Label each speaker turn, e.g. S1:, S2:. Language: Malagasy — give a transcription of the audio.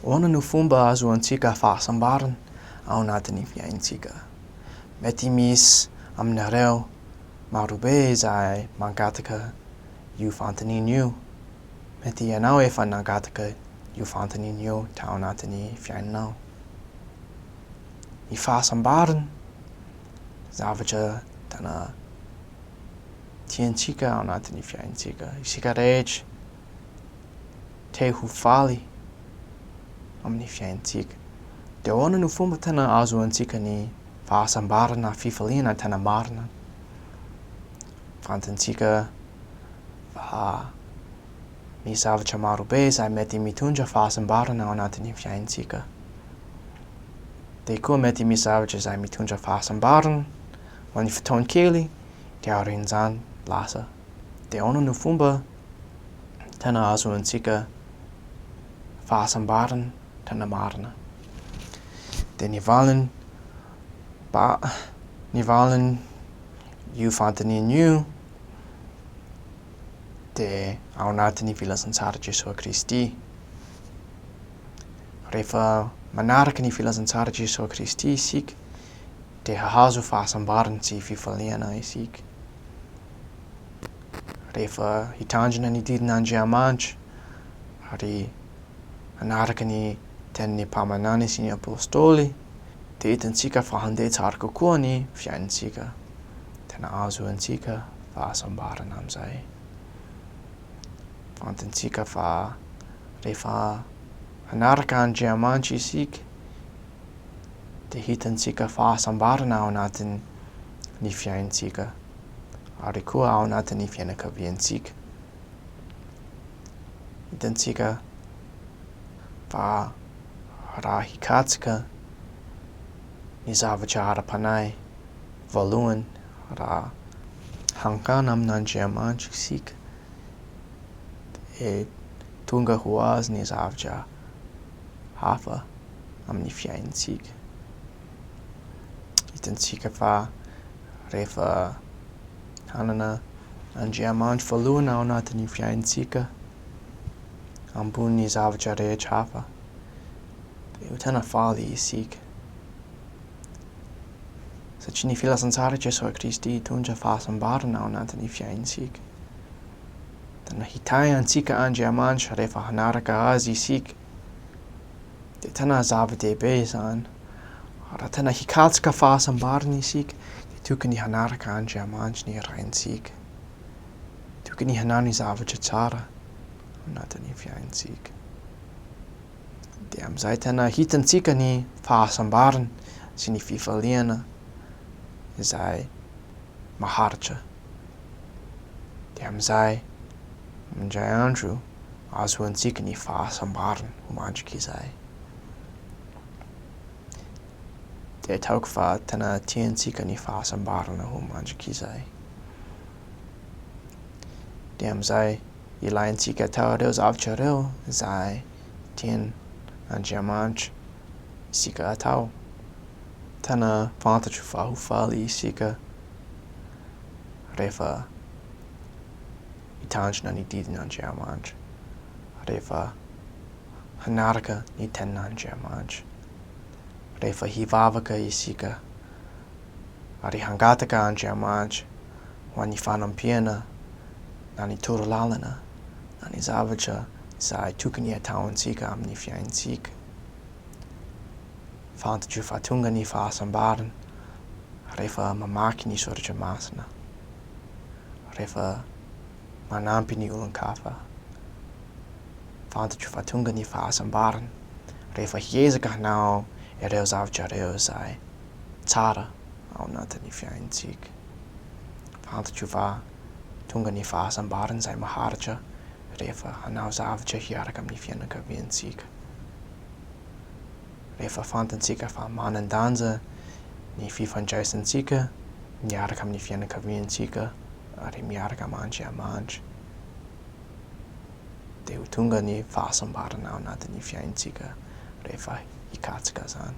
S1: Ahoana no fomba ahazoantsika fahasambarana ao anatin'ny fiainantsika? Mety misy aminareo marobe izay mangataka io fanontaniana io. Mety ianao efa nangataka io fanontaniana io tao anatin'ny fiainanao. Ny fahasambarana, zavatra tena tiantsika ao anatin'ny fiainantsika isika rehetra. te ho faly amin'ny fiainantsika. Dia ahoana no fomba tena ahazoantsika ny fahasambarana, fifaliana tena marina? Fantantsika fa misy zavatra marobe izay mety mitondra fahasambarana ao anatin'ny fiainantsika. Dia koa mety misy zavatra izay mitondra fahasambarana ho an'ny fotoan-kely dia aorian'izany lasa. Dia ahoana no fomba tena ahazoantsika fahasambarana tena marina. Dia ny valiny, ba, ny valiny io fanontaniana io dia ao anatin'ny filazantsara Jesoa Kristy. Rehefa manaraka ny filazantsara Jesoa Kristy isika dia hahazo fahasambarana sy fifaliana isika. rehefa hitandrina ny didin'Andriamanitra ary hanaraka ny tenin'ny mpaminany sy ny apostoly dia hitantsika fa handeha tsara kokoa ny fiainantsika. Tena ahazoantsika fahasambarana amin'izay. Fantantsika fa rehefa hanaraka Andriamanitra isika dia hitantsika fahasambarana ao anatin'ny fiainantsika. ary koa ao anatin'ny fianakaviantsika. Hitantsika fa raha hikatsaka ny zavatra ara-panahy voalohany, raha hankana amin'Andriamanitra isika, dia tonga ho azy ny zavatra hafa amin'ny fiainantsika. Hitantsika fa rehefa hanana Andriamanitra voalohany ao anatin'ny fiainantsika ambony zavatra rehetra hafa dia ho tena faly isika. Satria ny filazantsara Jesoa Kristy hitondra fahasambarana ao anatin'ny fiainantsika. Dia nahitahy antsika Andriamanitra rehefa hanaraka azy isika. dia tena zava-dehibe izany. Raha tena hikatsaka fahasambarana isika, dia tokony hanaraka Andriamanitra ny Raintsika. Tokony hanao ny zavatra tsara anatin'ny fiainantsika. Dia amin'izay tena hitantsika ny fahasambarana sy ny fifaliana izay maharitra. Dia amin'izay, indray andro, ahazoantsika ny fahasambarana ho mandrika izay. Dia ataoko fa tena tiantsika ny fahasambarana ho mandrika izay. Dia amin'izay ilaintsika atao ireo zavatra ireo izay tian' Andriamanitra isika atao. Tena fantatro fa ho faly isika rehefa mitandrina ny didin' Andriamanitra, rehefa hanaraka ny tenin' Andriamanitra, rehefa hivavaka isika ary hangataka Andriamanitra ho an'ny fanampiana na ny toro lalana na ny zavatra izay tokony hataontsika amin'ny fiaintsika. Fantatro fa tonga ny fahasambarana rehefa mamaky ny Soratra Masina. rehefa manampy ny olon-kafa. Fantatra fa tonga ny fahasambarana rehefa hiezaka hanao ireo zavatra ireo izay tsara ao anatin'ny fiainantsika. Fantatra fa tonga ny fahasambarana izay maharitra rehefa hanao zavatra hiaraka amin'ny fianakaviantsika. rehefa fantantsika fa manan-danja ny fifandraisantsika miaraka amin'ny fianakaviantsika ary miaraka amin' Andriamanitra, dia ho tonga ny fahasambarana ao anatin'ny fiainantsika rehefa hikatsaka izany.